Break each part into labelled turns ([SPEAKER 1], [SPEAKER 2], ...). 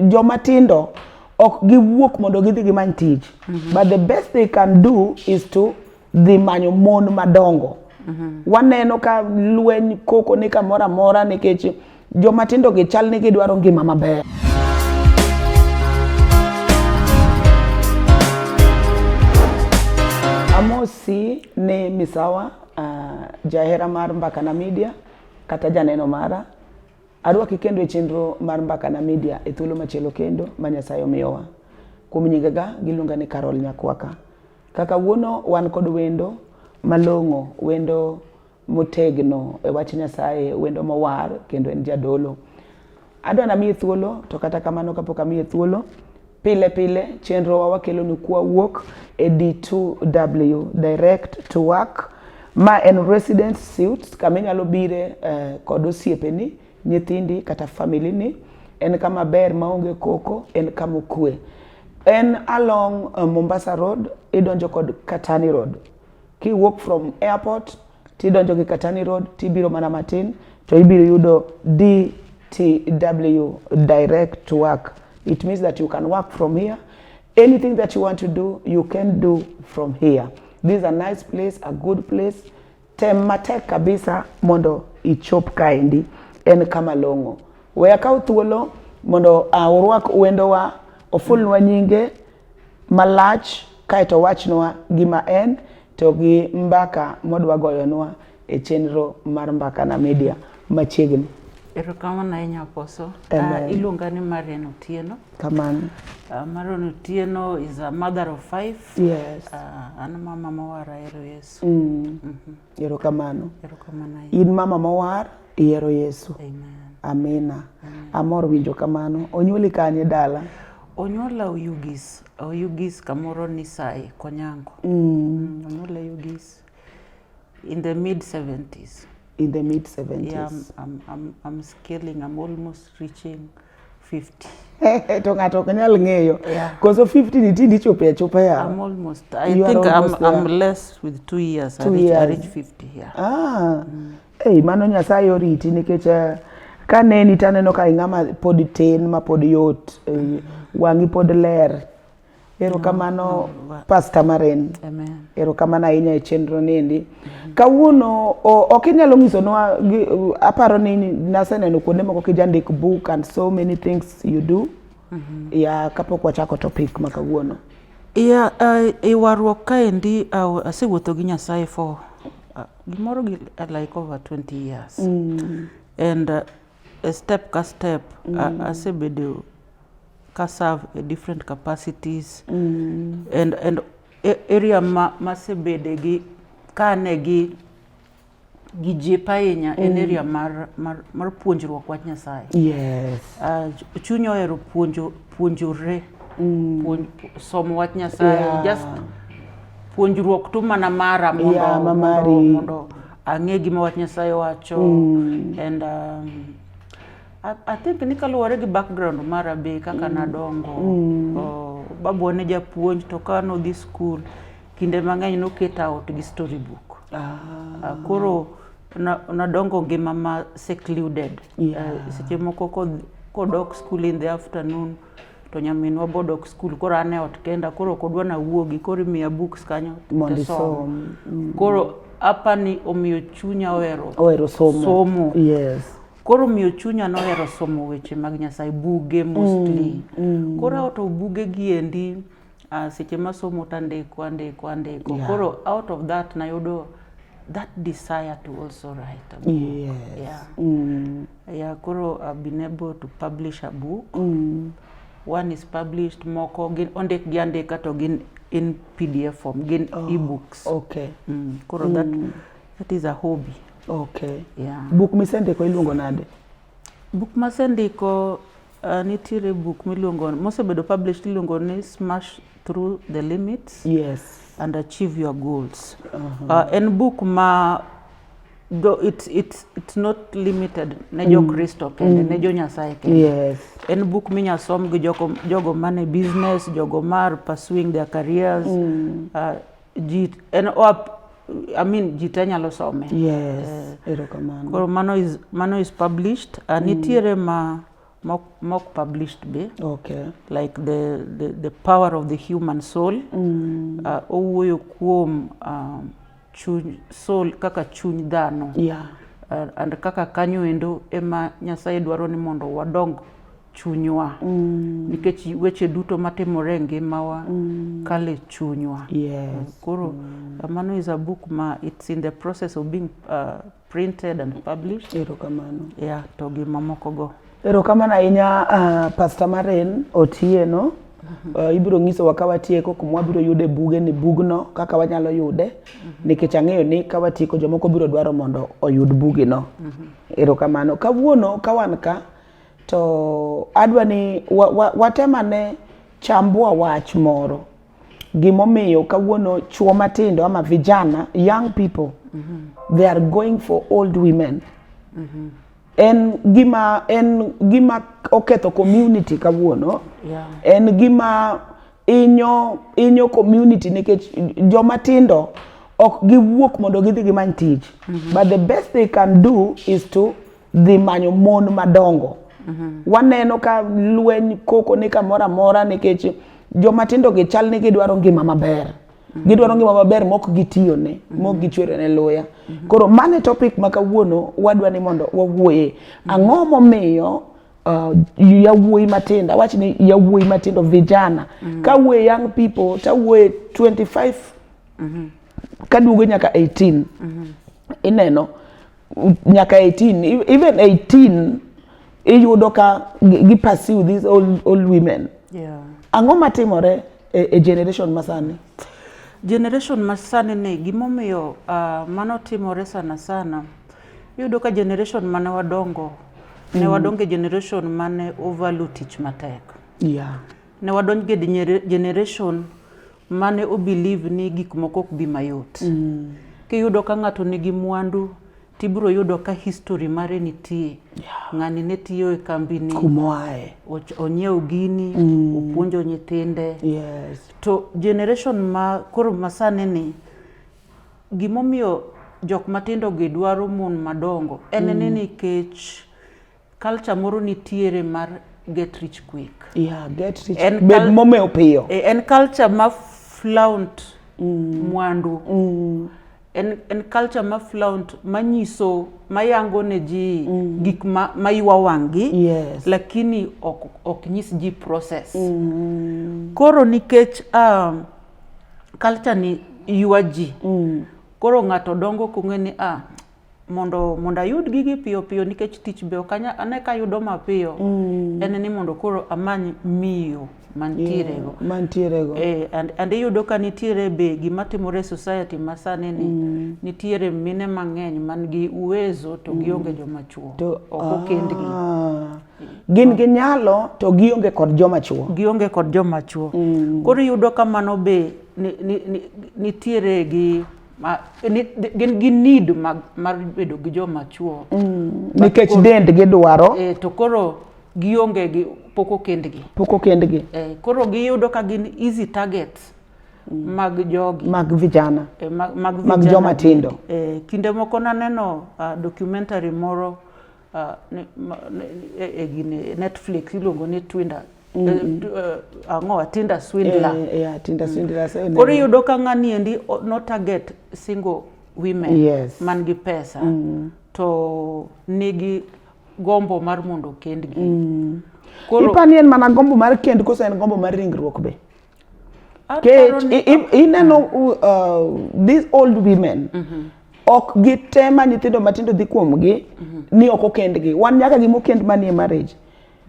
[SPEAKER 1] joma tindo ok giwuok mondo gidhi gimany tich mm -hmm. but the best they can do is to dhi manyo mon madongo mm -hmm. waneno ka lweny koko ni kamoro amora nikech joma tindo gi chal ni gidwaro ngima maber amosi ni misawa uh, jahera mar mbakana media kata janeno mara Arwaki kendo e chenro mar Mbakana Media e thuolo machielo kendo ma Nyasaye omiyowa. Kuom nyingega giluonga ni Carol Nyakwaka. Kaka wuono wan kod wendo malong'o, wendo motegno e wach Nyasaye, wendo mowar kendo en jadolo. Adwa namiye thuolo to kata kamano kapok amiye thuolo, Pile pile chenrowa wakelonu kwa wuok e D2W direct to work ma en resident suit kama inyalo bire eh, kod osiepeni, nyithindi kata family ni. En kama ber maonge koko, en kama okwe. En along eh, Mombasa Road, idonjo kod Katani Road. Kiwuok from airport tidonjo gi Katani Road tibiro mana matin to ibiro yudo DTW direct work it means that you can work from here anything that you want to do you can do from here this is a nice place a good place tem matek kabisa mondo ichop kaendi en kama long'o we akaw thuolo mondo uh, urwak wendowa ofulnwa nyinge malach kaeto owachnwa gima en to gi mbaka modwa goyonwa e chenro mar Mbakana Media machiegni. Erokamano
[SPEAKER 2] ahinya Apostle. Uh, iluonga ni Marian Otieno. Kamano.
[SPEAKER 1] Uh, Marian
[SPEAKER 2] Otieno is a mother of five. Yes. Uh,
[SPEAKER 1] an mama
[SPEAKER 2] mawar ahero Yesu. Mm. Mm -hmm.
[SPEAKER 1] Erokamano. Erokamano.
[SPEAKER 2] In mama mowar
[SPEAKER 1] ihero Yesu. Amen. Amina. Amen. Amor winjo kamano. Onyuoli kanye dala? Onyuola
[SPEAKER 2] Oyugis. Oyugis kamoro ni Sai Konyango. Mm. Mm, onyuola Oyugis in the mid 70s. In the mid 70s.
[SPEAKER 1] Yeah,
[SPEAKER 2] I'm, I'm, I'm, I'm scaling. I'm almost reaching 50 to ng'ato
[SPEAKER 1] ok nyal ng'eyo koso 50
[SPEAKER 2] niti
[SPEAKER 1] ndichopo e chupa ya I'm almost I you
[SPEAKER 2] think I'm, I'm less with 2 years two I reach, years. I reach 50 yeah. ah mm.
[SPEAKER 1] hey, mano nyasaye oriti nikech eh, ka neni taneno ka ing'ama pod tin ma pod yot eh, wang'i pod ler Erokamano Pastor Maren. Amen. Erokamano
[SPEAKER 2] ahinya e
[SPEAKER 1] chenro niendi. Mm -hmm. Kawuono ok inyalo nyisonwa aparo ni naseneno kuonde moko kijandik book and so many things you do. Mm -hmm. Ya kapok wachako topic ma kawuono. Ya
[SPEAKER 2] uh, e warruok kaendi uh, asewuotho gi Nyasaye for uh, gimoro gi uh, like over 20 years. Mm. And uh, e step ka step mm. a, asebedo ka serve e different capacities mm. and, and e, area ma, masebede gi kane gi gi jip ahinya mm. en area mar, mar, mar puonjruok wach Nyasaye. Yes.
[SPEAKER 1] Uh, chuny
[SPEAKER 2] ohero puonjo puonjore mm. puonj, somo wach Nyasaye yeah. just puonjruok tu mana mara mondo, yeah, mondo, mondo Ang'e gima wach Nyasaye wacho mm. and um, I, I think ni kaluwore gi background mara be kaka mm. nadongo mm. oh, babu ne japuonj to ka nodhi school kinde mang'eny noket out gi story book ah. uh, koro nadongo ngima ma secluded eh, yeah. uh, seche moko kodok school in the afternoon to nyaminwa bod ok skul koro an e ot kenda koro ok odwa nawuogi koro imiya books kanyo Mondo asom. isom. Mm.
[SPEAKER 1] koro
[SPEAKER 2] apa ni omiyo chunya ohero Ohero somo.
[SPEAKER 1] somo Yes. koro omiyo
[SPEAKER 2] chunya nohero somo weche mag nyasaye buge mostly koro aoto bugegi endi uh, seche masomo to andiko andiko andiko yeah. koro out of that nayudo that desire to also write a book. Yes. Yeah.
[SPEAKER 1] Mm.
[SPEAKER 2] Yeah, koro I've been able to publish a book. Mm. One is published moko gin ondik gi andika to gin in PDF form gin oh, ebooks. Okay. Mm.
[SPEAKER 1] Koro mm. that
[SPEAKER 2] that is a hobby. Okay.
[SPEAKER 1] Yeah. Book
[SPEAKER 2] misendiko iluongo
[SPEAKER 1] nade? Book
[SPEAKER 2] masendiko Uh, nitiere buk miluongo mosebedo published iluongo ni smash through the limits yes. and
[SPEAKER 1] achieve your
[SPEAKER 2] goals uh -huh. uh, en buk ma do it's, it's, it's not limited ne jo mm. kristo mm. kende mm. ne jo nyasaye kende yes. en buk
[SPEAKER 1] minya
[SPEAKER 2] som gi jogo, jogo mane business jogo mar pursuing their careers mm. uh, ji en oap I mean ji te nyalo some yes eh, erokamano koro
[SPEAKER 1] mano is
[SPEAKER 2] mano is published uh, nitiere
[SPEAKER 1] mm. ma
[SPEAKER 2] mock, mock published be okay like
[SPEAKER 1] the
[SPEAKER 2] the, the power of the human soul mm. uh, owuoyo kuom uh, chuny soul kaka chuny dhano yeah.
[SPEAKER 1] uh, and kaka
[SPEAKER 2] kanyo endo ema nyasaye dwaro ni mondo wadong chunywa mm. nikech weche duto matimore e ngimawa mm. kale chunywa yes. koro
[SPEAKER 1] mm. Uh,
[SPEAKER 2] mano is a book ma it's in the process of being uh, printed and published erokamano yeah
[SPEAKER 1] to gi
[SPEAKER 2] mamoko go erokamano ahinya
[SPEAKER 1] uh, pastor maren otieno Uh, ibiro nyisowa ka watieko kuma wabiro yude buge ni bugno kaka wanyalo yude mhm. nikech ang'eyo ni ka watieko jomoko biro dwaro mondo oyud bugino mhm. erokamano kawuono ka wan ka to adwa ni watemane wa, wa chambua wach moro gimomiyo kawuono chuo matindo ama vijana young people mm -hmm. they are going for old women mm -hmm. en gima en gima oketho community kawuono yeah. en gima inyo inyo community nikech joma tindo ok giwuok mondo gidhi gimany tich mm -hmm. but the best they can do is to dhi manyo mon madongo mhm. waneno ka lweny koko ni kamoro amora nikech joma tindo gi chal ni gidwaro ngima maber mhm. gidwaro ngima maber mok gitiyo ne mhm. mok gichwere ne luya koro mane topic ma kawuono wadwa ni mondo wawuoye ang'o momiyo uh, yawuoyi matindo awach ni yawuoyi matindo vijana mm -hmm. kawuoye young people tawuoye 25 mm -hmm. kaduogo nyaka 18 mm -hmm. ineno nyaka 18 even 18 iyudo ka gi pursue these old, old women yeah. ang'o
[SPEAKER 2] matimore
[SPEAKER 1] e, e generation masani generation
[SPEAKER 2] masani ni gimomiyo uh, mano timore sana sana iyudo ka generation mane wadongo mm. ne wadonge generation mane overlook tich matek yeah.
[SPEAKER 1] ne wadonj ge
[SPEAKER 2] generation mane o believe ni gik moko ok bi mayot mm. kiyudo ka ng'ato nigi mwandu tibiro yudo ka history mare nitie yeah. ng'ani ne tiyo e kambini kumoae
[SPEAKER 1] onyiew
[SPEAKER 2] gini mm. opuonjo nyithinde yes. to
[SPEAKER 1] generation
[SPEAKER 2] ma koro masani ni gimomiyo jok matindo gi dwaro mon madongo en mm. ni nikech Culture moro nitiere mar get rich quick. Yeah, get rich.
[SPEAKER 1] En Bed kal- momeo piyo. E, En culture ma
[SPEAKER 2] flaunt mwandu. En, en culture ma flaunt manyiso mayango ne ji gik ma, ma ywa wang'gi Yes. lakini
[SPEAKER 1] ok,
[SPEAKER 2] ok nyis ji process. Koro nikech um, culture ni ywa ji koro ng'ato dongo kong'e ni ah, mondo mondo ayud gigi piyo piyo nikech tich be ok ane ka ayudo mapiyo mm. en ni mondo koro amany miyo mantierego yeah, mantierego eh, and, and iyudo ka nitiere be gima timore e society ma sani ni mm. nitiere mine mang'eny man gi uwezo to mm. gionge joma chuo to, ok okendgi ah.
[SPEAKER 1] gin gi nyalo to gionge kod joma chuo gionge kod joma chuo mm. koro iyudo ka mano be nitiere ni, ni, ni gi ma ni- gin gi need mag mar bedo gi joma chuo nikech dend gidwaro eh, to koro
[SPEAKER 2] gionge gi pok okendgi pok okendgi eh, koro giyudo ka gin easy targets mag jogi mag vijana eh,
[SPEAKER 1] mag, mag, Mag vijana
[SPEAKER 2] joma tindo.
[SPEAKER 1] eh, kinde moko
[SPEAKER 2] naneno uh, documentary moro uh, ne, ma, ne, e, e, gini Netflix iluongo ni Twinder mm -hmm. uh, eh, ang'o a Tinder Swindler eh, yeah, Tinder mm. Swindler mm.
[SPEAKER 1] so, koro iyudo ka ng'ani
[SPEAKER 2] endi no target single women yes. man gi
[SPEAKER 1] pesa mm.
[SPEAKER 2] to nigi gombo mar mondo kendgi mm. koro ipani
[SPEAKER 1] en mana gombo mar kend koso en gombo mar ringruok be kech ineno uh, these old women mm -hmm. ok gitema nyithindo matindo dhi kuomgi mm -hmm. ni ok okendgi wan nyaka gima okend manie marriage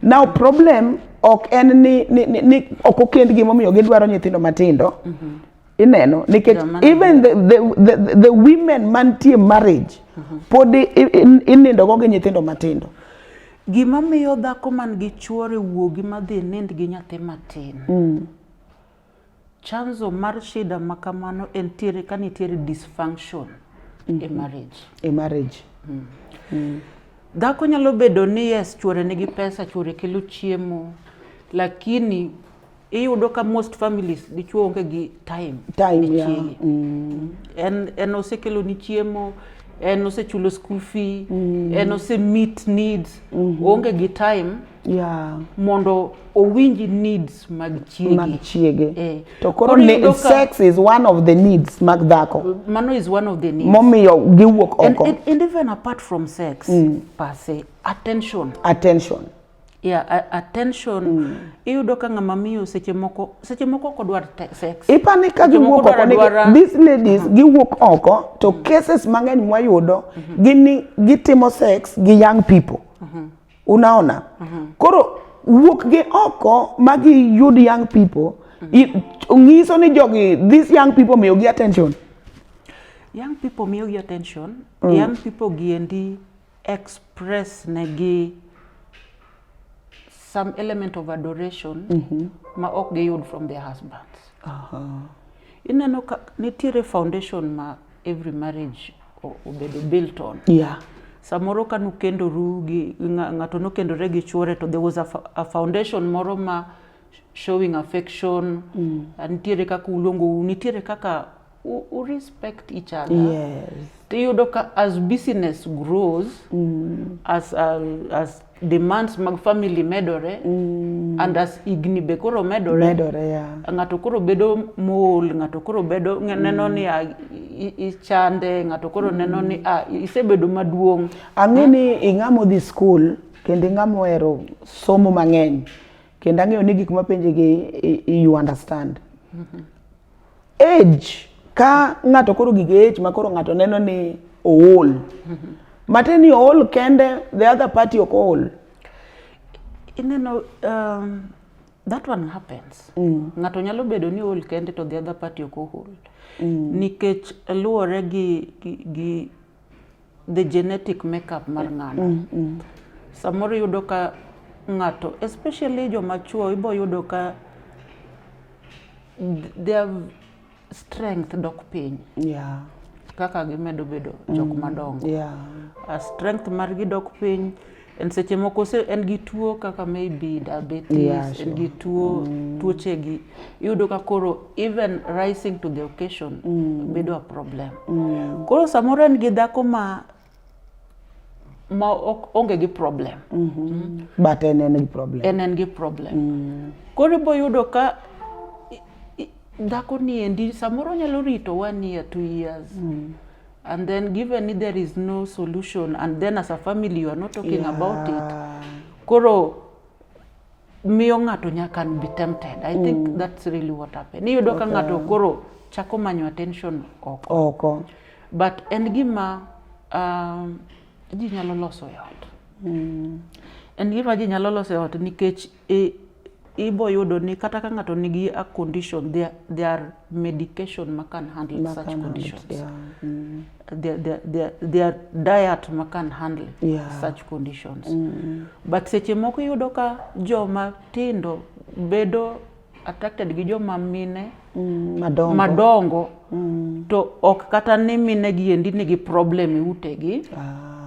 [SPEAKER 1] now problem ok en ni, ni, ni, ni ok okend gimomiyo gidwaro nyithindo matindo mm -hmm. ineno nikech even the, the, the, the women mantie marriage mm -hmm. pod inindogo gi nyithindo matindo Gima
[SPEAKER 2] miyo dhako man gi chuore wuogi madhi e nind gi nyathi matin. Mm. Chanzo mar shida ma kamano en tiere ka nitiere dysfunction mm -hmm. e mm-hmm. marriage. E marriage. Mm. Mm. Dhako nyalo bedo ni yes, chuore nigi pesa, chuore kelo chiemo, lakini iyudo ka most families dichuo onge gi time time yeah. chiege mm. en en osekelo ni chiemo en osechulo school fee mm. en ose meet needs mm -hmm. onge gi time yeah. mondo owinji needs mag chiege, mag chiege. Eh.
[SPEAKER 1] to koro ne, sex is one of the needs mag dhako mano is one of the
[SPEAKER 2] needs momiyo giwuok
[SPEAKER 1] oko and, and, and even apart
[SPEAKER 2] from sex mm. per se attention attention Yeah, attention mm. iyudo ka ng'ama miyo seche moko seche moko ok odwar sex. Ipani ka giwuok
[SPEAKER 1] oko ni these ladies mm-hmm. giwuok oko to mm-hmm. cases mang'eny mwayudo mm-hmm. gini gitimo sex gi young people. Unaona? Koro wuok gi oko ma giyud young people nyiso ni jogi these young people miyo gi attention.
[SPEAKER 2] Young people miyo gi attention. Mm. Young people giendi express negi some element of adoration mm -hmm. ma ok giyud from their husbands uh -huh. ineno ka nitiere foundation ma every marriage obedo built on yeah. samoro ka nukendoru gi ng'ato nokendore gi chuore to there was a, a foundation moro ma showing affection mm. nitiere kaka uluongou nitiere kaka u, u respect each other yes tiyudo ka as business grows mm. as, uh, as demands mag family medore mm. and as igni be koro medore, medore yeah. ng'ato koro bedo mool ng'ato koro bedo mm. neno ni a, ichande ng'ato koro mm. neno ni a, isebedo maduong' ang'e ni hmm?
[SPEAKER 1] ing'amo dhi school kendo ing'amo ohero somo mang'eny kendo ang'eyo ni gik mapenjigi you understand mm -hmm. Age ka ng'ato koro gige age ma koro ng'ato neno ni ool. Mm -hmm. Mate ni ool kende the other party ok ool.
[SPEAKER 2] Ineno um, that one happens. Mm. Ng'ato nyalo bedo ni ool kende to the other party ok ool. Mm. Nikech luwore gi, gi, gi the genetic makeup mar ng'ano mm, mm. samoro yudo ka ng'ato especially joma chuo ibo yudo ka their strength dok piny yeah. kaka gimedo bedo jok mm, madongo yeah. strength margi dok piny en seche moko se en gi tuo kaka maybe diabetes yeah, sure. en gi tuo mm. tuoche gi iyudo ka koro even rising to the occasion mm. bedo a problem mm. koro samoro en gi dhako ma ma ok onge gi problem mm -hmm. mm. but
[SPEAKER 1] en en gi problem en en gi problem mm.
[SPEAKER 2] koro ibo yudo ka dhako ni endi samoro nyalo rito one year two years mm. and then given if there is no solution and then as a family you are not talking yeah. about it koro miyo ng'ato nyaka be tempted i mm. think that's really what happened iyudo okay. ka ng'ato koro chako manyo attention oko oko but en gima um, ji nyalo loso e ot mm. en gima ji nyalo loso e ot nikech I, ibo yudo ni kata ka ng'ato nigi a condition there, there are medication ma can handle ma such can conditions handle, yeah. mm. there, there, there, there diet ma can handle yeah. such conditions mm. but seche moko yudo ka joma tindo bedo attracted gi joma mine mm, madongo, madongo mm. to ok kata ni mine gi endi nigi problem e utegi ah.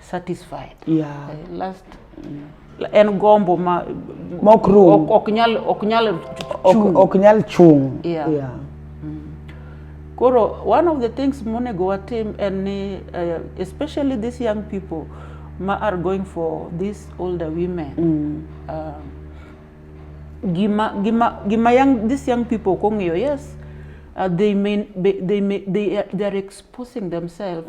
[SPEAKER 2] satisfied yeah. Eh, last en gombo ma mok rum ok, ok nyal ok nyal ok, chung
[SPEAKER 1] ok nyal chung yeah. Yeah.
[SPEAKER 2] koro one of the things monego watim en ni eh, especially these young people ma are going for these older women um, gima gima gima young these young people ok ong'eyo yes uh, they may they, they may they are, they are exposing themselves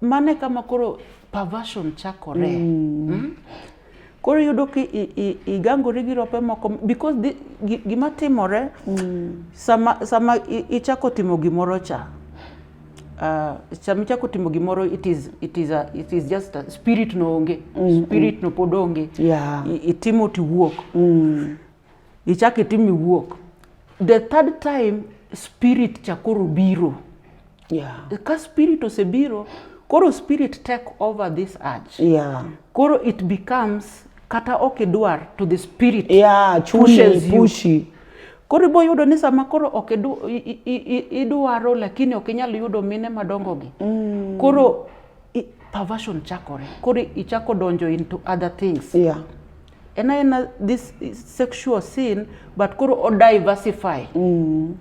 [SPEAKER 2] Mano e kama koro perversion chakore. Mm. Mm? Koro iyudo ki igangori gi rope moko because di, gima timore mm. sama, sama ichako timo gimoro cha uh, sama ichako timo gimoro it is, it is, a, it is just a spirit no onge mm, mm. spirit mm. no pod onge yeah. itimo tiwuok mm. Ichak itim iwuok. The third time spirit cha koro biro. Yeah. Ka spirit osebiro, koro spirit take over this urge. Yeah. Koro it becomes kata ok idwar to the spirit yeah, pushes you. Pushi. Koro ibo yudo ni sama koro ok idwaro lakini ok inyal yudo mine madongogi. Mm. Koro perversion chakore. Koro ichako donjo into other things. Yeah. en aena this sexual sin but koro o diversify mm.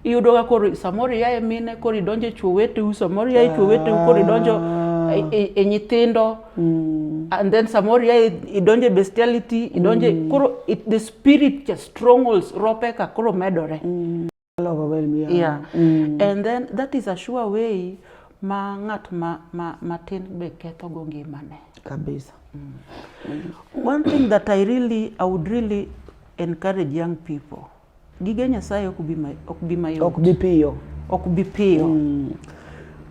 [SPEAKER 2] iyudoga koro samoro ia e mine koro idonjo e chwo weteu samoro ia e chwo weteu koro idonjo e, ah. e, e nyithindo mm. and then samoro ia e, idonjo e bestiality idonjo mm. koro it, the spirit strongholds ropeka koro medore mm. yeah. mm. and then that is a sure way ma ng'at ma, ma, matin be ketho go ngimane kabisa
[SPEAKER 1] mm.
[SPEAKER 2] one thing that i really i would really encourage young people gige nyasaye ok bi mayot ok bi piyo ok bi piyo mm.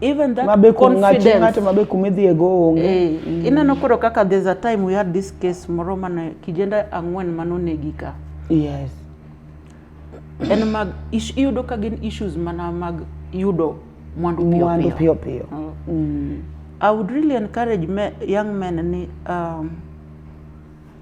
[SPEAKER 2] even that mabe confidence ng'ato mabe kuma idhiye go
[SPEAKER 1] onge eh, mm. ineno koro
[SPEAKER 2] kaka there's a time we had this case moro mane kijende ang'wen mane onegi ka yes en mag iyudo ka gin issues mana mag yudo mwandu piyo mwandu piyo piyo mm. mm. I would really encourage me, young men ni um,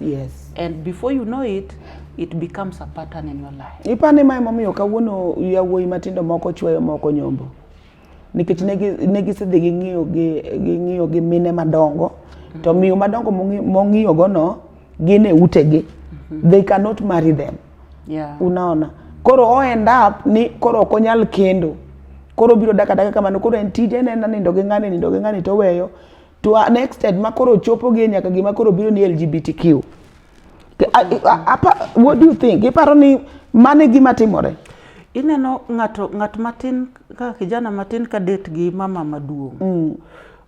[SPEAKER 2] Yes. And before you know it, it becomes a pattern in your life. Ipani ma emomiyo kawuono
[SPEAKER 1] yawuoyi matindo moko chweyo moko nyombo. Nikech ne gisedhi ging'iyo gi ging'iyo gi mine madongo to miyo madongo mong'iyo go no gin e utegi. Mm-hmm. They cannot marry them. Yeah. Unaona? Koro o end up ni koro ok onyal kendo. Koro biro daka daka kamano koro en tije ne nindo gi ng'ani nindo gi ng'ani to weyo to an extent ma koro chopo gi nyaka gima koro biro ni LGBTQ. Apa, what do you think? Iparo ni mane gima timore? Ineno
[SPEAKER 2] ng'ato ng'at matin ka kijana matin ka date gi mama maduong'. Mm.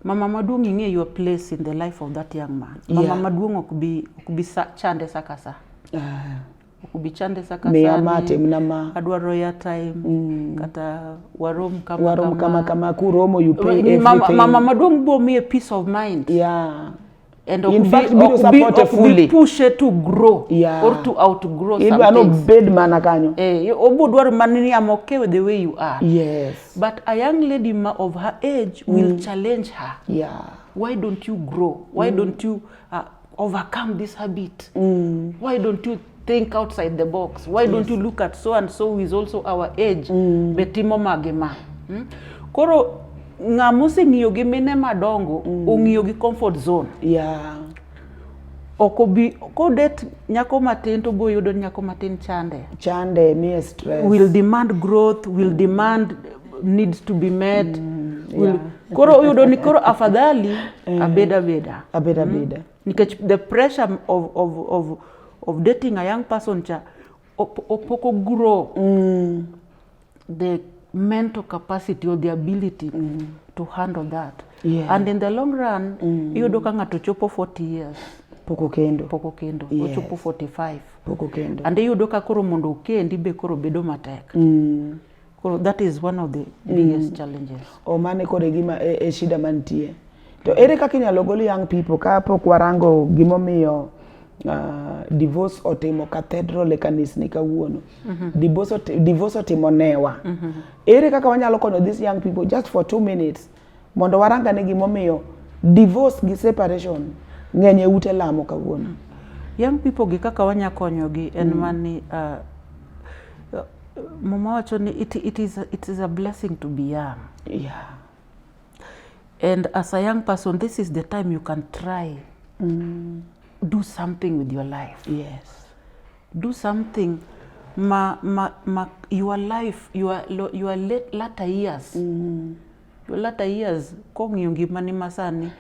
[SPEAKER 2] Mama maduong' ing'e your place in the life of that young man. Mama yeah. maduong' ok bi ok bi sa, chande sakasa. Uh. Ah. kubichande saka miya ma timna ma
[SPEAKER 1] adwaro ya time
[SPEAKER 2] mm. kata warom kama warom kama kama
[SPEAKER 1] kuromo you pay everything mama, mama maduong' bo miye
[SPEAKER 2] peace of mind yeah and in fact biro
[SPEAKER 1] support be, fully push it to grow
[SPEAKER 2] yeah. or to outgrow something idwa no bed mana
[SPEAKER 1] kanyo eh obo dwaro mana
[SPEAKER 2] ni am okay with the way you are yes but a young lady ma of her age mm. will challenge her yeah why don't you grow why mm. don't you uh, overcome this habit mm. why don't you think outside the box why yes. don't you look at so and so who is also our age mm. betimo mage ma hmm? koro ng'a moseng'iyo gi mine madongo mm. ong'iyo gi comfort zone yeah. ok obi kodet nyako matin to boyudo nyako matin chande chande miye stress
[SPEAKER 1] will demand growth
[SPEAKER 2] will mm. demand needs to be met mm, yeah. koro uyudo ni koro afadhali eh. abeda beda abeda mm. beda nikech the pressure of, of, of, of dating a young person cha opoko grow mm. the mental capacity or the ability mm. to handle that yeah. and in the long run mm. iyudo ka ng'ato chopo 40 years poko kendo
[SPEAKER 1] poko kendo yes. ochopo 45
[SPEAKER 2] poko kendo and
[SPEAKER 1] iyudo ka koro mondo
[SPEAKER 2] okendi be koro bedo matek mm. Koro that is one of the biggest mm. challenges. O mane kore gima
[SPEAKER 1] e, e shida mantie. To ere kaka inyalo gol young people ka pok warango gimomiyo uh, divorce otimo cathedral e kanisni kawuono. Mm -hmm. Divorce, divorce otimo newa. Mm -hmm. Ere kaka wanyalo konyo these young people just for two minutes Mondo warang ane gimomiyo divorce gi separation ng'eny e ute lamo kawuono. Young people
[SPEAKER 2] gi kaka wanya konyogi en mm. mani uh, uh, mama wacho ni it, it, is, it is a blessing to be young. Yeah. And as a young person, this is the time you can try mm. do something with your life. Yes.
[SPEAKER 1] Do
[SPEAKER 2] something ma, ma, ma your life your, your late, latter years mm. your latter years kong'iyo ngimani masani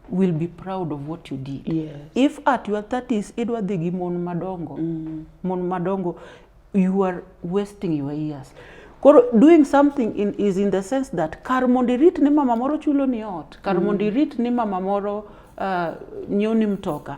[SPEAKER 2] will be proud of what you did yes. if at
[SPEAKER 1] your
[SPEAKER 2] 30s idwa dhi gi mon madongo mm. mon madongo you are wasting your years koro doing something in, is in the sense that kar mondo irit ni mama moro chulo ni ot kar mm. mondo irit ni mama moro uh, nyoni mtoka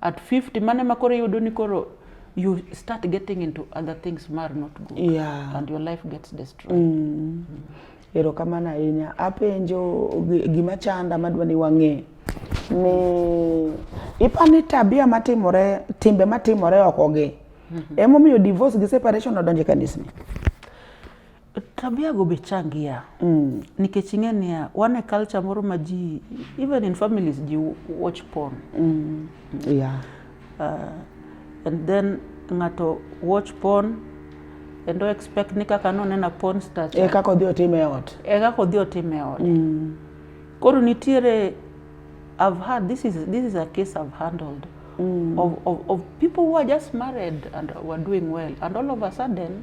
[SPEAKER 1] at
[SPEAKER 2] 50 mane ma koro iyudo ni koro you start getting into other things mar not good Yeah. and your life
[SPEAKER 1] gets
[SPEAKER 2] destroyed mm. erokamano
[SPEAKER 1] ahinya apenjo gi- gima chanda madwa ni wang'e ni ipa ni tabia matimore timbe matimore okogi emomiyo divorce gi separation odonje kanisni
[SPEAKER 2] Tabia go be changia mm. nikech ing'e niya wan e culture moro ma ji even in families ji watch porn mm.
[SPEAKER 1] yeah.
[SPEAKER 2] uh, and then ng'ato watch porn and do expect ni kaka nonena porn star e kaka odhi otim e
[SPEAKER 1] ot e kaka odhi otim e ot mm.
[SPEAKER 2] koro nitiere I've had this is this is a case I've handled mm. of, of, of people who are just married and were doing well and all of a sudden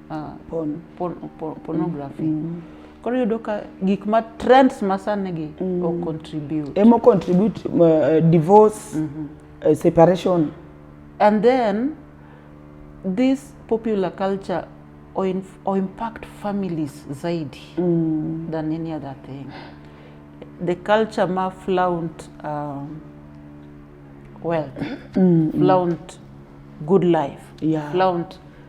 [SPEAKER 2] uh, porn. Por, por, pornography mm -hmm. koro yudo ka gik ma trends ma sani gi mm. o contribute emo contribute
[SPEAKER 1] uh, divorce mm -hmm. uh, separation and
[SPEAKER 2] then this popular culture or, in, or impact families zaidi mm. than any other thing the culture ma flaunt um, wealth mm. flaunt good life yeah. flaunt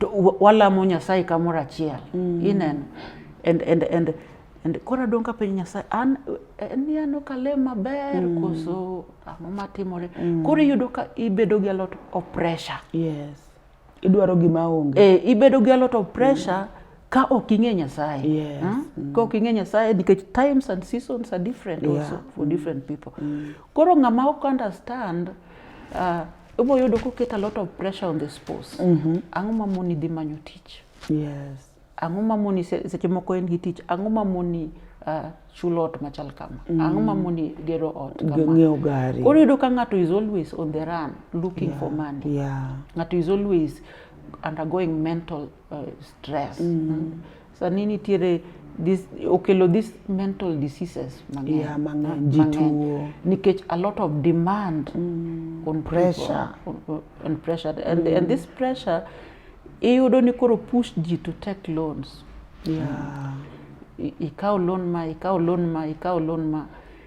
[SPEAKER 2] to walamo Nyasaye kamoro achiel mm. ineno and, and, and, and koro adong' ka penjo Nyasaye an ni an ok alem maber mm. koso ang'o matimore mm. koro iyudo ka ibedo gi a lot of pressure yes.
[SPEAKER 1] idwaro gima onge e, ibedo gi a lot of
[SPEAKER 2] pressure mm. ka ok ing'e Nyasaye yes. hmm? mm. ka
[SPEAKER 1] ok ing'e
[SPEAKER 2] Nyasaye nikech times and seasons are different yeah. also for mm. different people mm. koro ng'ama ok understand uh, Ibo yudo koket a lot of pressure on the spouse. Mm -hmm. Ang'o ma moni dhi manyo tich? Yes.
[SPEAKER 1] Ang'o ma moni
[SPEAKER 2] seche moko en gi tich? Ang'o ma moni uh, chulo ot machal kama mm. ang'o ma moni gero ot ng'iewo gari koro yudo
[SPEAKER 1] ka ng'ato is
[SPEAKER 2] always on the run looking yeah. for money yeah. ng'ato is
[SPEAKER 1] always
[SPEAKER 2] undergoing mental uh, stress mm. sani nitiere this okelo this mental diseases mang'eny yeah, mang'eny ji
[SPEAKER 1] tuo nikech a lot
[SPEAKER 2] of demand mm. on pressure
[SPEAKER 1] people, on,
[SPEAKER 2] pressure and, mm. and this pressure iyudo ni koro push ji to take loans yeah. ikaw loan ma ikaw loan ma ikaw loan ma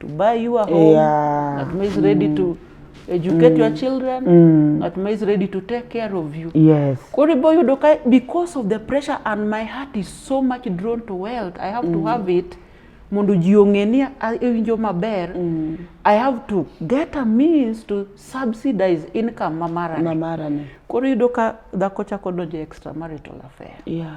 [SPEAKER 2] to buy you a home yeah. ng'at ma is ready mm. to educate mm. your children mm. ng'at ma is ready to take care of you yes. koro ibo yudo
[SPEAKER 1] ka
[SPEAKER 2] because of the pressure and my heart is so much drawn to wealth i have mm. to have it mondo ji ong'e ni iwinjo maber mm. i have to get a means to subsidize income ma marane koro yudo ka dhako chako donjo extramarital affair yeah.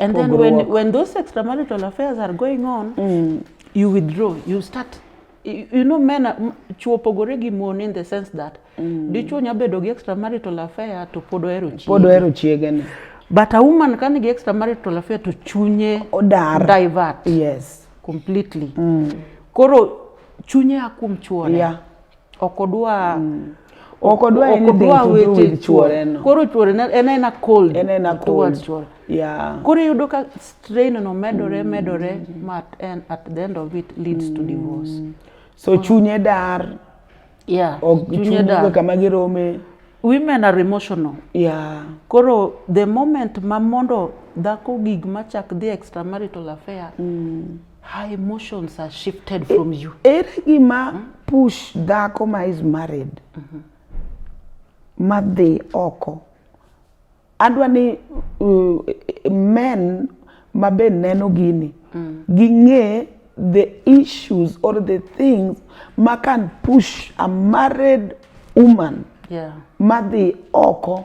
[SPEAKER 2] And then when, when those extramarital affairs are going on, mm. you withdraw, you start you know men chuo opogore gi mon in the sense that mm. dichuo nya bedo gi extramarital affair to pod ohero chiege pod ohero chiege ni but a woman ka nigi extramarital affair to chunye odar divert yes
[SPEAKER 1] completely mm.
[SPEAKER 2] koro chunye a kuom chuore yeah. ok
[SPEAKER 1] odwa
[SPEAKER 2] mm. ok
[SPEAKER 1] odwa anything chuore no koro chuore en ena
[SPEAKER 2] cold en ena cold chuore
[SPEAKER 1] yeah koro yudo ka
[SPEAKER 2] strain no medore mm. medore ma and at the end of it leads mm. to divorce mm. so chunye
[SPEAKER 1] dar yeah
[SPEAKER 2] chunye dar
[SPEAKER 1] kama girome women are
[SPEAKER 2] emotional yeah
[SPEAKER 1] koro the
[SPEAKER 2] moment ma mondo dhako gig machak dhi extramarital affair mm. Her emotions are shifted from you. Ere gima hmm?
[SPEAKER 1] push dhako ma is married mm -hmm. madhi oko adwa ni uh, men ma be neno gini mm. ging'e the issues or the things ma can push a married woman yeah.
[SPEAKER 2] madhi
[SPEAKER 1] oko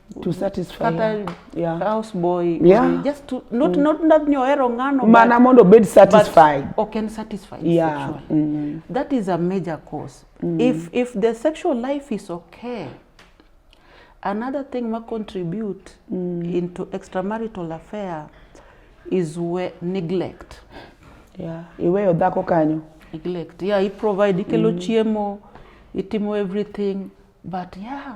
[SPEAKER 2] to
[SPEAKER 1] satisfy kata her. Yeah. house
[SPEAKER 2] boy Yeah. just to
[SPEAKER 1] not not
[SPEAKER 2] not ni ohero ng'ano mana but- mondo obed but
[SPEAKER 1] satisfied ok en satisfied
[SPEAKER 2] Yeah, sexually. mm. that is a major cause if if the sexual life is okay another thing ma contribute into extramarital affair is we neglect
[SPEAKER 1] yeah. iweyo dhako kanyo neglect yeah i
[SPEAKER 2] provide ikelo chiemo itimo everything but yeah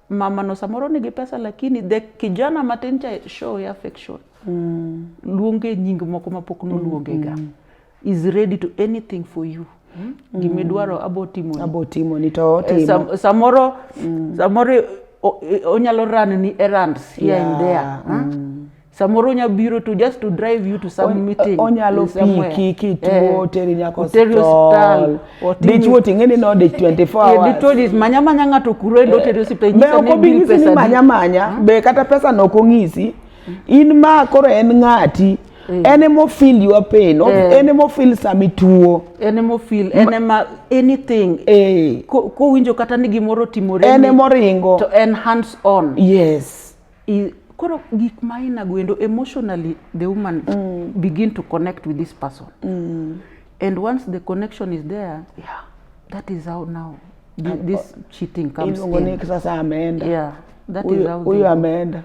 [SPEAKER 2] mama no samoro nigi pesa lakini the kijana matin cha show ya affection mm. luonge nying moko mapok noluonge ga mm. is ready to anything for you mm. gimidwaro mm. abo timo abo timo
[SPEAKER 1] ni to eh, timo Sam, samoro mm.
[SPEAKER 2] samoro onyalo run ni errands here yeah. and there mm. huh? samoro onya biro to just to drive you to some meeting onyalo piki
[SPEAKER 1] kituo eh, teri nyako hospital dichuo what ni no de 24 hours dichuo dis manya manya
[SPEAKER 2] ng'ato kuro endo eh, teri hospital nyisa ni bil pesa manya
[SPEAKER 1] manya hmm? be kata pesa no kong'isi in ma koro en ng'ati Mm. en ema ofil your pain yeah. en ema ofil sama ituo en ema ofil en ema anything eh.
[SPEAKER 2] kowinjo kata ni gimoro timore en ema oringo to
[SPEAKER 1] en hands
[SPEAKER 2] on yes
[SPEAKER 1] I, koro
[SPEAKER 2] gik ma inago endo emotionally the woman mm. begin to connect with this person mm. and once the connection is there yeah. that is how now this, this cheating comes in. Sasa ameenda yeah, that uyo, is how uyo ameenda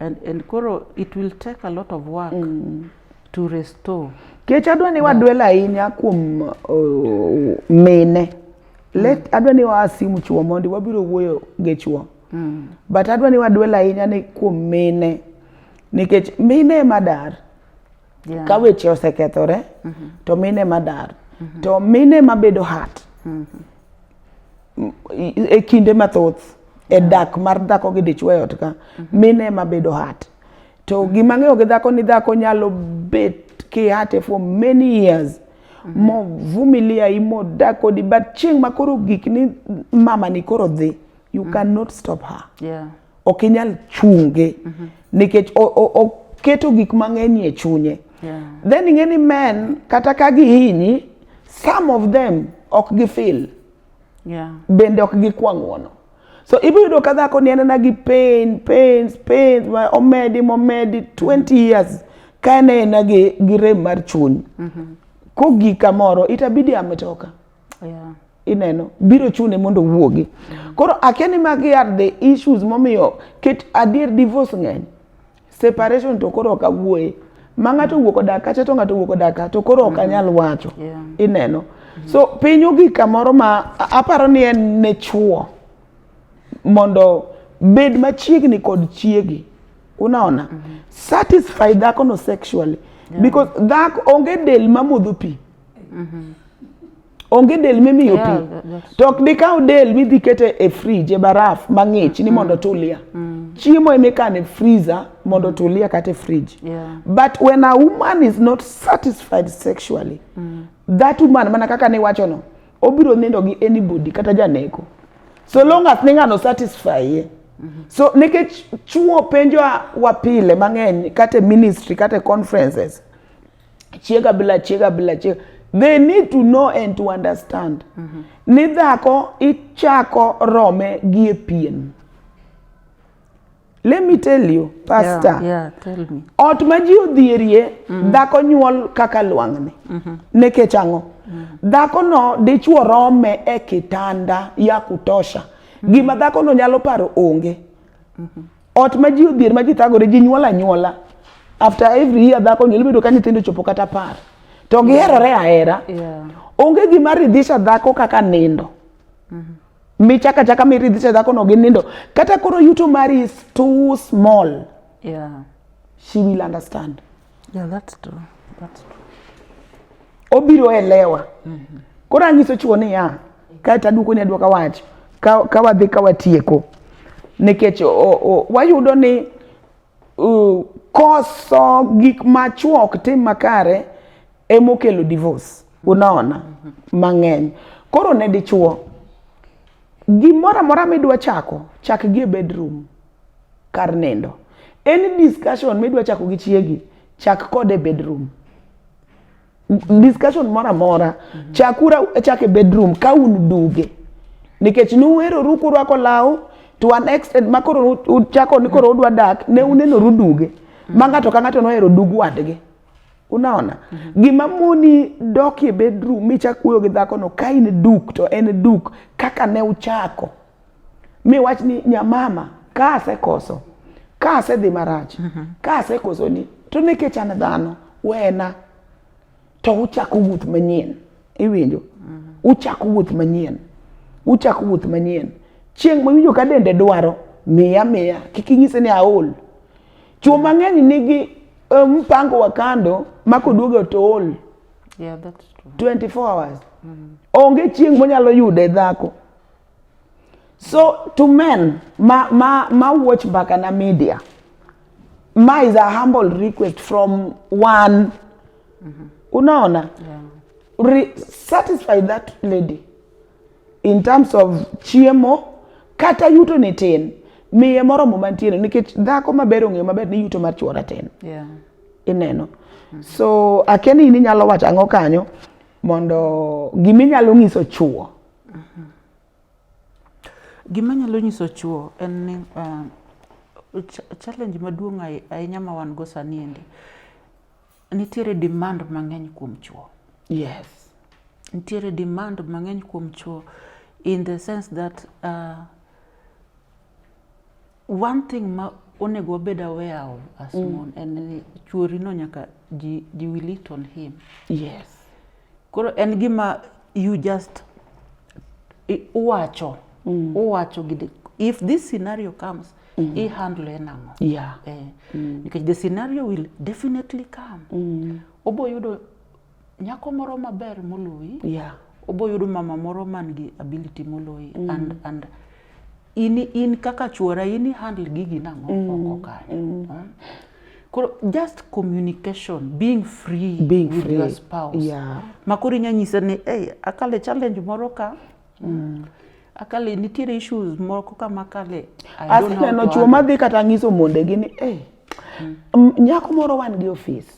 [SPEAKER 2] and, and koro it will take a lot of work mm. to restore kech adwa ni
[SPEAKER 1] wadwel ahinya kuom uh, mine let mm. adwa ni waa simu chuo mondi wabiro wuoyo gi chuo mm. but adwa ni wadwel ahinya ni kuom mine nikech mine ema dar yeah. ka weche osekethore mm -hmm. to mine ema dar mm -hmm. to mine ema bedo hat mm -hmm. e kinde mathoth e yeah. dak mar dhako gi dichwo e ot ka mm -hmm. mine ema bedo hat to mhm. gima ng'eyo gi dhako ni dhako nyalo bet kihate for many years mm -hmm. movumilia imodak kodi but chieng' makoro gik ni mama ni koro dhi mm -hmm. you mm. cannot stop her yeah. ok
[SPEAKER 2] inyal
[SPEAKER 1] chunge mm -hmm. nikech oketo gik mang'eny e chunye yeah. then ing'e
[SPEAKER 2] ni men
[SPEAKER 1] kata ka gihinyi some of them ok gifil yeah.
[SPEAKER 2] bende ok gikwa
[SPEAKER 1] ng'uono so ibiro yudo ka dhako ni anena gi pain pains pains omedi momedi 20 years ka en aena gi, gi rem mar chuny mm -hmm. kogik kamoro itabidi ametoka yeah.
[SPEAKER 2] ineno
[SPEAKER 1] biro chune mondo owuogi koro akia ni magi are the issues momiyo ket adier divorce ng'eny separation to koro ok awuoye ma ng'ato owuok odak kacha to ng'ato owuok odak kacha to koro ok anyal mm-hmm. wacho yeah. ineno
[SPEAKER 2] mm-hmm.
[SPEAKER 1] so piny ogik kamoro ma aparo ni en ne chuo mondo bed machiegni kod chiegi unaona mm -hmm. satisfy dhakono sexually yeah. because dhako onge del mamodho pi Mm-hmm. Onge del mimiyo pi. Yeah, that- that's- To ok dikaw del midhi kete e fridge e baraf mang'ich ni mondo tulia. Chiemo emikano e freezer mondo tulia kata e fridge. Yeah. But when
[SPEAKER 2] a woman
[SPEAKER 1] is not satisfied sexually, that woman mana kaka niwacho no, obiro nindo gi anybody kata janeko. So long as ni ng'ano satisfy ye. So nikech chuo penjowa wa pile mang'eny kata e ministry kata e conferences chiega bila chiega bila chiega they need to know and to understand mm -hmm. ni dhako ichako rome gi e pien let me tell you pastor yeah, yeah, tell me.
[SPEAKER 2] ot ma ji
[SPEAKER 1] odhierie mm -hmm. dhako nyuol kaka lwang'ni mm -hmm. nekech ang'o mm -hmm. dhako no dichuo rome e kitanda ya kutosha mm -hmm. gima dhako no nyalo paro onge mm -hmm. Ot ma ji odhier ma ji thagore ji nyuol anyuola. After every year dhako nyuol bedo ka nyithindo chopo kata apar. To giherore ahera. Yeah. Onge
[SPEAKER 2] gima
[SPEAKER 1] ridhisha dhako kaka nindo. Mm -hmm michaka chaka miridhisha dhako no gi nindo kata koro yuto mari is too small yeah.
[SPEAKER 2] she will
[SPEAKER 1] understand Yeah, that's true.
[SPEAKER 2] That's true.
[SPEAKER 1] Obiro elewa. Mm -hmm. Koro anyiso chuo ni ya, kae to aduoko ni aduoka wach, ka, ka wadhi ka watieko. Nikech wayudo ni uh, koso gik ma chuo ok tim makare emokelo divorce. Unaona? Mm -hmm. Mang'eny. Koro ne dichuo, gimoro amora midwa chako, chak gi e bedroom. kar nindo. Any discussion midwa chako gi chiegi, chak kode bedroom. Discussion moro amora, chakura chake bedroom ka un duge. Nikech nuweroru kurwako law to an extent ma koro uchako ni koro udwa dak, ne unenoru duge. Ma ng'ato ka ng'ato nohero dug wadgi. Unaona? Mm -hmm. Gima moni dok e bedroom michak wuoyo gi dhakono ka in duk to en duk kaka ne uchako. mi wach ni nyamama ka asekoso ka asedhi marach mhm. ka asekoso ni to nikech an dhano wena to uchako wuoth manyien iwinjo mhm. uchako wuoth manyien uchako wuoth manyien chieng' mawinjo ka dende dwaro miya miya kik inyise ni aol chuo mang'eny nigi eh, mpango wa kando ma koduogo to ol
[SPEAKER 2] yeah, 24 hours
[SPEAKER 1] mm. onge chieng' monyalo yude dhako So to men ma ma ma watch Bakana Media, my is a humble request from one. Mm-hmm. Unaona? Yeah. Re- satisfy that lady in terms of chiemo kata yuto ni tin miye moromo mantiere nikech dhako maber ong'eyo maber ni yuto mar chuora tin yeah.
[SPEAKER 2] ineno mm-hmm.
[SPEAKER 1] so akeni ni nyalo wacho ang'o kanyo mondo giminyalo nyiso chuo Mhm.
[SPEAKER 2] Gima nyalo nyiso chwo en ni uh, challenge maduong' ahinya ma wan go sani endi nitiere demand mang'eny kuom chwo. Yes.
[SPEAKER 1] Nitiere
[SPEAKER 2] demand mang'eny kuom chwo in the sense that uh, One thing ma onego wabed aware of as mm. mon en ni chuori no nyaka ji, ji will it on him. Yes.
[SPEAKER 1] Koro
[SPEAKER 2] en gima you just uwacho mm. uwacho gide if this scenario comes mm. i handle nang'o yeah. eh, mm.
[SPEAKER 1] because the
[SPEAKER 2] scenario will definitely come mm. obo yudo Nyako moro maber moloyi. Yeah. Oboyudo
[SPEAKER 1] mama
[SPEAKER 2] moro man gi ability moloyi mm. and and in in kaka chuora in handle gigi nang'o mm. oko kanyo. Mm. Huh? Koro just communication, being free being with free. your spouse. Yeah. Makoro inya nyise ni, hey, akale challenge moro ka. Mm. Akale nitiere issues moro ka makale. Asineno chuo madhi kata nyiso
[SPEAKER 1] mondegi ni, hey, mm. nyako moro wan gi office.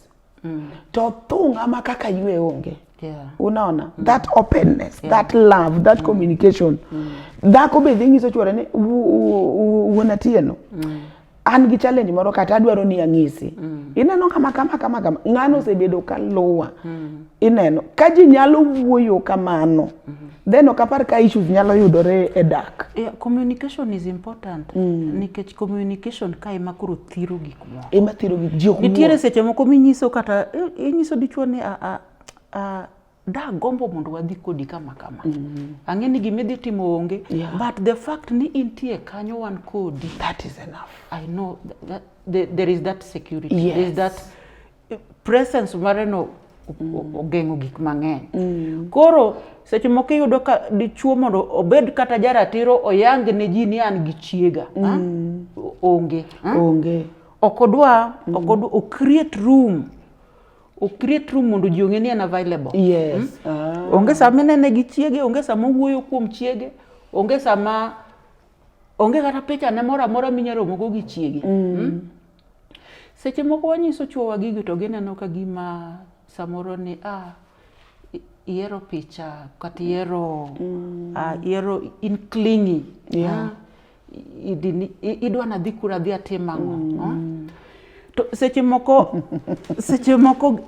[SPEAKER 1] mm. to thung' ama kaka ywe onge yeah. unaona mm. that openness yeah. that love that mm. communication mm. dhako be dhi nyiso chuore ni wuon atieno mm. an gi challenge moro kata adwaro ni ang'isi mm. ineno kama kama kama kama ng'ano mm. osebedo ka luwa mm. ineno ka ji nyalo wuoyo kamano mm -hmm. then ok apar ka issues nyalo yudore e dak yeah, communication is
[SPEAKER 2] important mm. nikech communication ka ema koro thiro gik ema thiro gi ji ok
[SPEAKER 1] nitiere seche moko minyiso
[SPEAKER 2] kata inyiso dichuo ni a, a, a, da gombo mondo wadhi kodi kama kama mm. ang'e ni gima idhi timo onge yeah. but the fact ni intie kanyo wan kodi that is enough
[SPEAKER 1] i know that,
[SPEAKER 2] that, there is that security yes. there is that presence mare no mm. ogeng'o gik mang'eny mm. koro seche moko iyudo ka dichuo mondo obed kata jaratiro oyang ne ji ni an gi chiega mm. onge onge ok odwa mm. ok odwa o create room o create room mondo ji ong'e ni en available yes. mm? ah. onge sama inene gi chiege onge sama owuoyo kuom chiege onge sama onge kata picha ne moro amora minyalo romogo gi chiege mm. mm? Seche moko wanyiso chuowa gigo to gineno ka gima samoro ni ah, ihero picha kata ihero mm. ah, ihero in clingy yeah. ah, idwa nadhi kura adhi atim ang'o mm. ah? to seche moko seche moko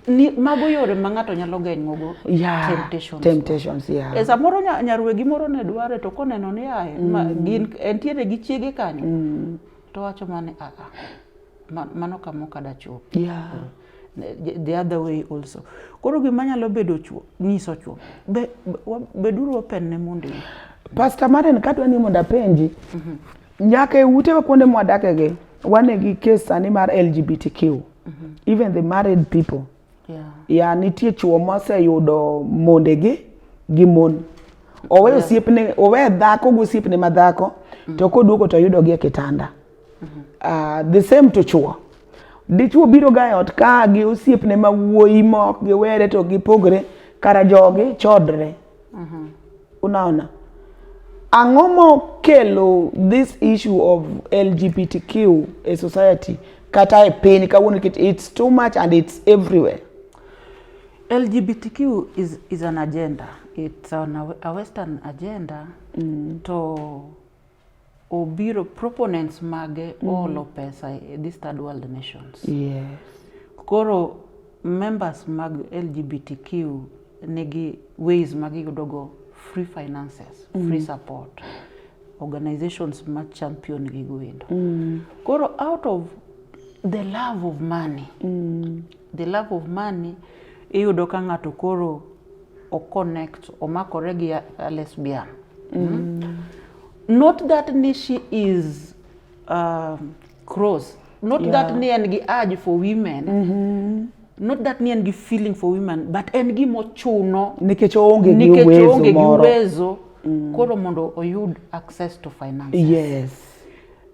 [SPEAKER 2] ni mago yore ma ng'ato nyalo geng'ogo yeah, temptations, temptations yeah. e samoro nyarwegi moro ne dware to koneno ni ae mm. gin entiere gi chiege kanyo mm. to wacho mane aa ah, ah, mano kama ok adachopi yeah. the other way also koro gima nyalo bedo chuo nyiso chuo be, beduru open ne mondo Pastor Maren
[SPEAKER 1] kadwa ni mondo apenji mm -hmm. nyaka e utewa kuonde mwadakegi wane gi kes sani mar LGBTQ mm -hmm. even the married people yeah. ya nitie chuo moseyudo mondegi gi mon oweyo yeah. siepne owe dhako gi osiepne ma dhako mm. to koduogo to yudogi e kitanda mm -hmm. uh, the same to chuo dichuo biro ga e ot ka gi osiepne ma wuoyi mok giwere to gipogre kara jogi chodre mm -hmm. Unaona, ang'o mokelo this issue of LGBTQ a society kata e piny kawuono nikech it's too much and it's everywhere. LGBTQ
[SPEAKER 2] is, is an agenda it's on a, a western agenda mm. to obiro proponents mage mm -hmm. olo pesa e this third world nations yes. koro members mag lgbtq nigi ways ma giyudogo free finances mm -hmm. free support organizations ma champion gigo endo mm -hmm. koro out of the love of money mm -hmm. The love of money iyudo ka ng'ato koro o connect omakore gi a lesbian. Mm. Mm. Not that ni she is uh, cross. Not yeah. that ni en gi urge for women. Mm -hmm not that ni en gi feeling for women but en gi mochuno nikech oonge
[SPEAKER 1] gi uwezo moro uwezo mm.
[SPEAKER 2] koro mondo oyud access to finance yes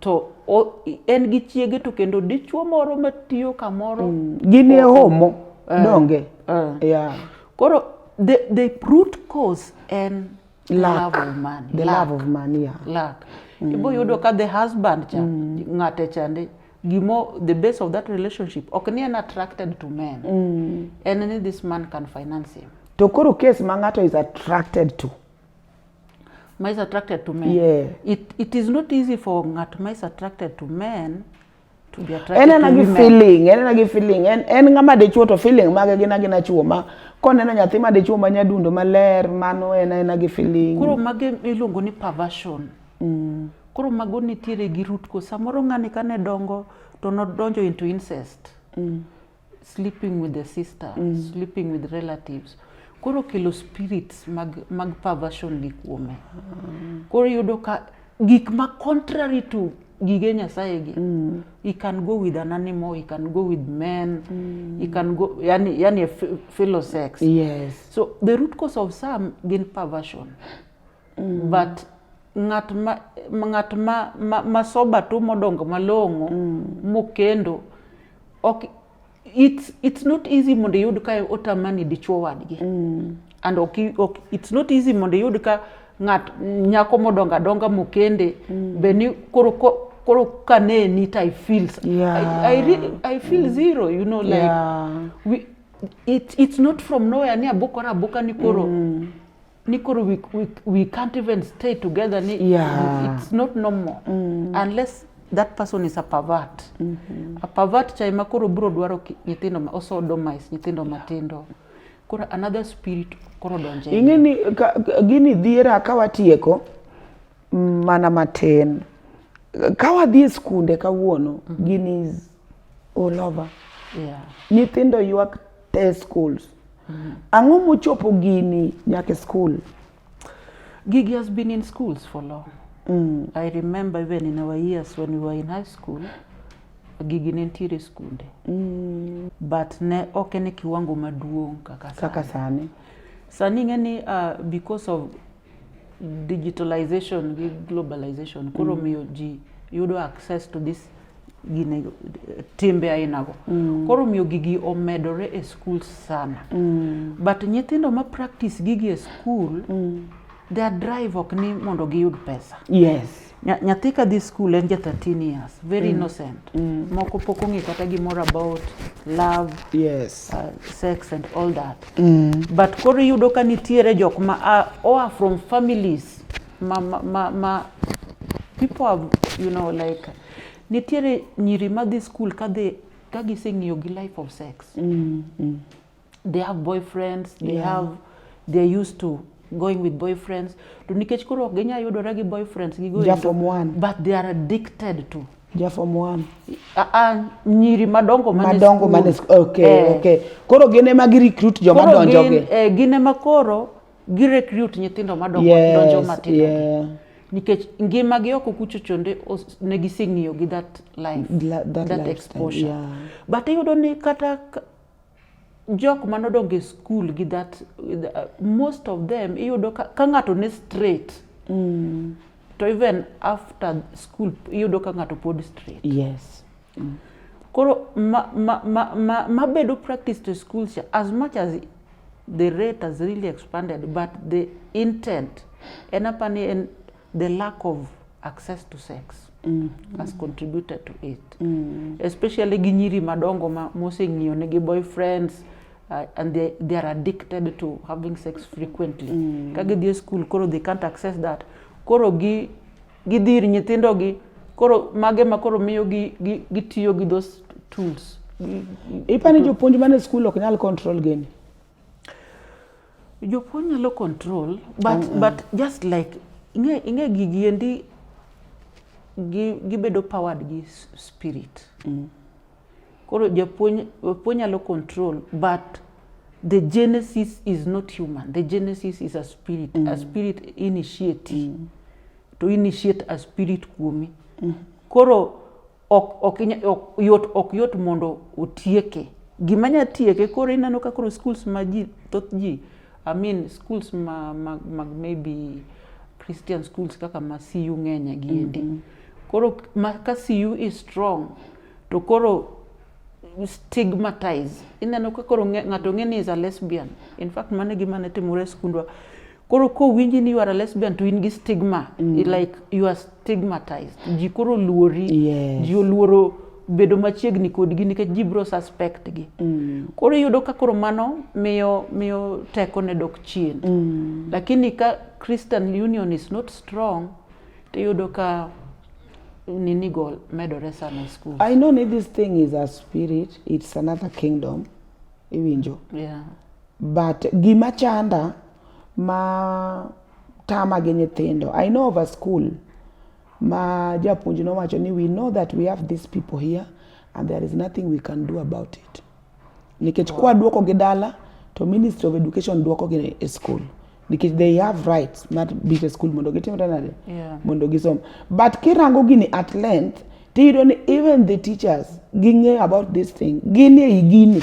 [SPEAKER 2] to en gi chiege to kendo dichuo moro matiyo kamoro mm. gin e homo
[SPEAKER 1] eh, donge eh. yeah.
[SPEAKER 2] koro the, the root cause en lack, love of money. The lack. love of money,
[SPEAKER 1] yeah. Lack. Mm. Ibo
[SPEAKER 2] yudo ka the husband cha mm. ng'ate chande gimo the base of that relationship ok ni en attracted to men mm. en ni this man can finance him to koro case ma
[SPEAKER 1] ng'ato is attracted to
[SPEAKER 2] ma is attracted to men yeah. it, it is not easy for ng'at ma is attracted to men to be attracted en ena gi feeling en ena gi feeling en
[SPEAKER 1] en ng'ama dichuo to feeling mage gin agina chuo ma koneno nyathi ma dichuo ma nyadundo maler mano en ena gi feeling koro mage iluongo
[SPEAKER 2] ni perversion mm. koro mago nitiere gi root ko samoro ng'ani kane dongo to nodonjo into incest mm. sleeping with the sister mm. sleeping with relatives koro kelo spirits mag, mag perversion ni kuome mm. koro yudo ka gik ma contrary to gige nyasaye gi mm. he can go with an animal he can go with men mm. he can go yani, yani a fellow sex yes. so the
[SPEAKER 1] root cause
[SPEAKER 2] of some gin perversion mm. but ng'at ma ng'at ma, ma, ma soba to modongo malong'o mm. mokendo Ok it's it's not easy mondo iyud ka otamani dichuo wadgi. Mm. And ok ok it's not easy mondo iyud ka ng'at nyako modonga donga mokende mm. be ni koro ko, koro ka ne ni I feel yeah. I, I, re, I feel mm. zero you know like yeah. we, it, it's not from nowhere ni abokora aboka ni koro mm. ni koro we, we, we can't even stay together ni Yeah. it's not normal unless that person is a pervert a pervert cha ema koro biro dwaro ki- nyithindo ma osodomize nyithindo matindo koro another spirit koro donje ing'e ni ka- ka-
[SPEAKER 1] gini dhiera ka watieko mm, mana matin ka wadhi e skunde kawuono gini is all over yeah. nyithindo ywak te schools mm -hmm. ang'o mochopo gini nyaka school
[SPEAKER 2] gigi has been in schools for long mm. i remember even in our years when we were in high school gigi ne nitiere skunde mm. but ne ok en e kiwango maduong' kaka sani kaka sani sani ing'e ni uh, because of digitalization gi globalization koro mm. miyo ji yudo access to this gine timbe ainago mm. koro miyo gigi omedore e skul sana mm. but nyithindo ma practice gigi e skul mm. their drive ok ni mondo giyud pesa yes Nya-
[SPEAKER 1] nyathi ka dhi
[SPEAKER 2] skul en ja 13 years very innocent moko pok ong'e kata gimoro about love yes uh, sex and all that but koro iyudo ka nitiere jok ma a- oa from families ma, ma, ma, ma people have, you know like nitiere nyiri madhi skul kadhi ka giseng'iyo gi life of sex they have boyfriends they yeah. have they're used to going with boyfriends to nikech koro ok ginyal yudore gi boyfriends gi going to, one. but they are addicted to ja form 1 ah,
[SPEAKER 1] ah,
[SPEAKER 2] nyiri madongo madongo mane
[SPEAKER 1] okay eh. okay koro gin ema gi recruit joma donjo gi eh, gin ema koro
[SPEAKER 2] gi recruit nyithindo madongo yes, donjo matindo yeah. nikech ngima gi oko kucho chonde ne giseng'iyo gi that life La, that, that life exposure yeah. but iyudo ni kata jok mane odongo e skul gi that uh, most of them iyudo ka, ka ng'ato ne straight mm. to even after school iyudo ka ng'ato pod straight yes mm.
[SPEAKER 1] koro
[SPEAKER 2] mabedo ma, ma, ma, ma bedo practice to school cha as much as the rate has really expanded but the intent en apa ni en The lack of access to sex mm. has contributed to it mm. especially gi nyiri madongo ma moseng'iyo ne gi boyfriends uh, and they, they are addicted to having sex frequently mm. ka gidhi e school koro they can't access that koro gi gidhi ir nyithindogi koro mage ma koro miyo gi, gi, gitiyo gi those tools ipani
[SPEAKER 1] jopuonj mane school ok nyal control gini
[SPEAKER 2] Jopuonj nyalo control but, mm -mm. but just like ing'e gigi endi gibedo powered gi spirit mm. koro japuonj japuonj nyalo control but the genesis is not human the genesis is a spirit mm. a spirit initiate mm. to initiate a spirit kuomi mm. koro ok, ok, ok, yot, ok yot mondo otieke gima nya tieke koro ineno ka koro schools ma ji thoth ji I mean schools ma, ma, ma maybe Christian schools kaka ma CU ng'enya giendi mm -hmm. koro ma, ka CU is strong to koro stigmatize ineno ka koro ng'ato ng'e ni is a lesbian in fact mane gima ne timore e skundwa koro kowinji ni you are a lesbian to in gi stigma mm. like you are stigmatized ji koro luori yes. ji oluoro bedo machiegni kodgi nikech ji biro suspect gi mm. koro iyudo ka koro mano miyo miyo teko ne dok chien mm. lakini ka christian union is not strong tiyudo ka nini go medore sana e school i know ni this thing
[SPEAKER 1] is a spirit it's another kingdom iwinjo yeah.
[SPEAKER 2] But
[SPEAKER 1] gima chanda ma tama gi nyithindo. I know of a school ma japuonj nowacho ni we know that we have these people here and there is nothing we can do about it. Nikech kwa duoko gi dala to Ministry of Education duoko gi e school nikech they have rights mar biro e school mondo gitim nade yeah. mondo gisom but kirango gini at length tiyudo ni even the teachers ging'eyo about this thing gin e gini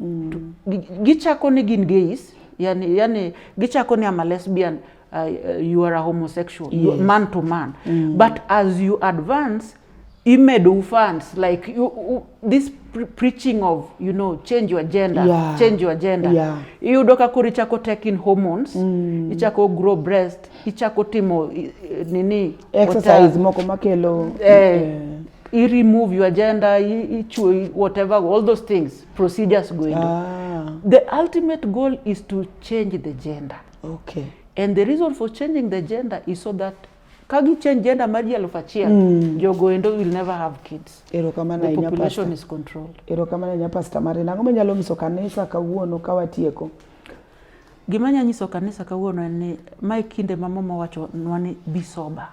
[SPEAKER 2] mm. gichako ni gin gays yani, yani gichako ni ama lesbian uh, uh, you are a homosexual yes. man to man mm. but as you advance imedu fans like you, you, this pre preaching of you know change your gender yeah. change your gender yeah. iyudo ka koro
[SPEAKER 1] ichako
[SPEAKER 2] taking hormones mm. ichako grow breast ichako timo nini exercise moko
[SPEAKER 1] makelo eh, eh.
[SPEAKER 2] i remove your agenda ichwe whatever all those things procedures going ah. the ultimate goal is to change the gender okay and
[SPEAKER 1] the reason for
[SPEAKER 2] changing the gender is so that ka gi change gender maji elfu achiel mm. jogoendo will never have kids erokamano the population is controlled erokamano ahinya pastor
[SPEAKER 1] Marina ang'o manyalo nyiso kanisa kawuono ka watieko
[SPEAKER 2] Gima nya nyiso kanisa kawuono en ni mae kinde ma mama wacho nwa ni be sober.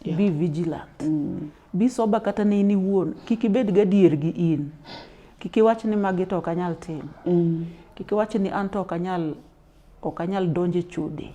[SPEAKER 2] Yeah. Be vigilant. Mm. Be sober kata ne in iwuon. Kik ibed gadier gi in. Kik iwach ni magi to ok anyal timo. Mm. Kik iwach ni an to ok anyal ok anyal donjo e chode.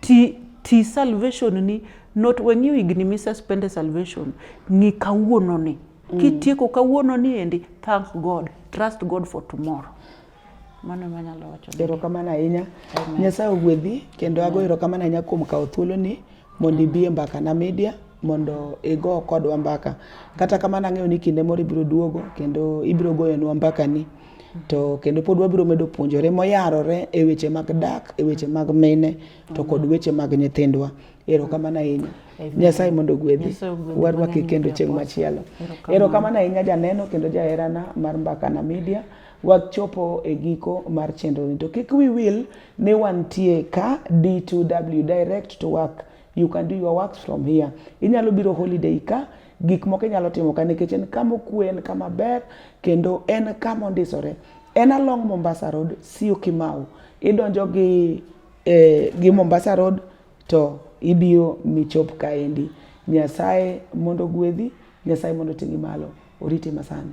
[SPEAKER 2] ti, ti salvation ni not wang'iyo higni misuspende salvation ng'i kawuono ni mm. kitieko kawuono ni endi thank god trust god for tomorrow mano ema anyalo wacho erokamano ahinya
[SPEAKER 1] nyasaye ogwedhi kendo ago erokamano ahinya kuom kawo thuoloni mondo ibi e mbakana media mondo igo kodwa mbaka kata kamano ang'eyo ni kinde moro ibiro duogo kendo ibiro goyonwa mbakani to kendo pod wabiro medo puonjore moyarore e weche mag dak e weche mag mine to kod weche mag nyithindwa erokamano ahinya nyasaye mondo ogwedhi warwaki kendo chieng' machielo erokamano ahinya janeno kendo jaherana mar mbakana media wachopo e giko mar chenroni to kik wi wil ni wantie ka d2w direct to work you can do your works from here inyalo biro holiday ka gik moko inyalo timo ka nikech en kama okwe en kama ber kendo en kama ondisore en along mombasa road siu kimau idonjo gi eh, gi mombasa road to ibiro michop kaendi nyasaye mondo gwedhi nyasaye mondo ting'i malo oriti masani